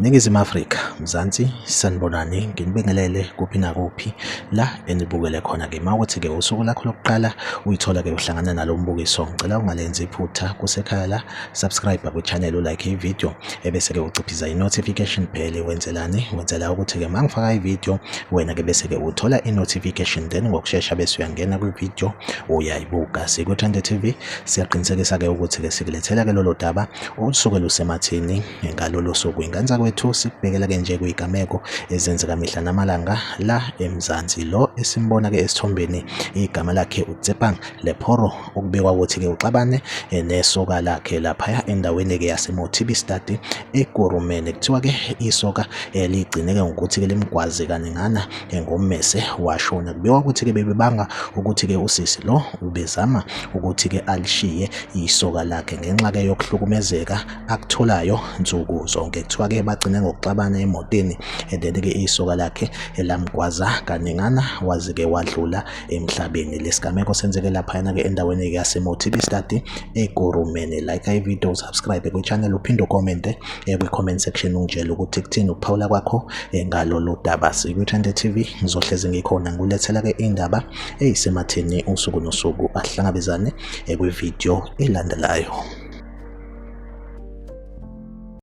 Ningizimu Afrika, Mzansi, sanibonani, nginibingelele kuphi nakuphi la enibukele khona-ke. Uma ukuthi-ke usuku lakho lokuqala uyithola-ke uhlangana nalo mbukiso, ngicela ungalenzi iphutha kusekhaya la subscribe kwichannel ulike ivideo ebese-ke uciphiza i-notification bell wenzelani wenzela ukuthi-ke uma ngifaka ivideo wena-ke bese-ke uthola i-notification then ngokushesha bese uyangena kwivideo uyayibuka sikwi-trend tv siyaqinisekisa-ke ukuthi-ke sikulethela-ke lolo daba olusuke lusemathini ngalolo suku inganza kwethu sikubhekela-ke nje kuyigameko ezenzeka mihla namalanga la emzansi lo esimbona-ke esithombeni igama lakhe utsepang lephoro Okubekwa ukuthi-ke uxabane eh, nesoka lakhe laphaya endaweni-ke yaseMotibi Stadi eKurumeni. Kuthiwa-ke isoka eh, ligcineke ngokuthi-ke limgwaze kaningana eh, ngommese washona. Kubekwa ukuthi-ke bebebanga ukuthi-ke usisi lo ubezama ukuthi-ke alishiye isoka lakhe ngenxa-ke yokuhlukumezeka akutholayo nsuku zonke. Kuthiwa-ke bagcine ngokuxabana emotini and then-ke isoka lakhe lamgwaza kaningana waze-ke wadlula emhlabeni lesigameko senzeke laphayana-ke endaweni-ke yasemotibi study egurumeni like ivideo usubscribe kwichannel uphinde ukomente eh, kwi-comment section ungitshele ukuthi kuthini ukuphawula kwakho eh, ngalolu daba sikwithande tv ngizohlezi ngikhona ngulethela-ke indaba eyisematheni usuku nosuku ahlangabezane eh, kwivideo elandelayo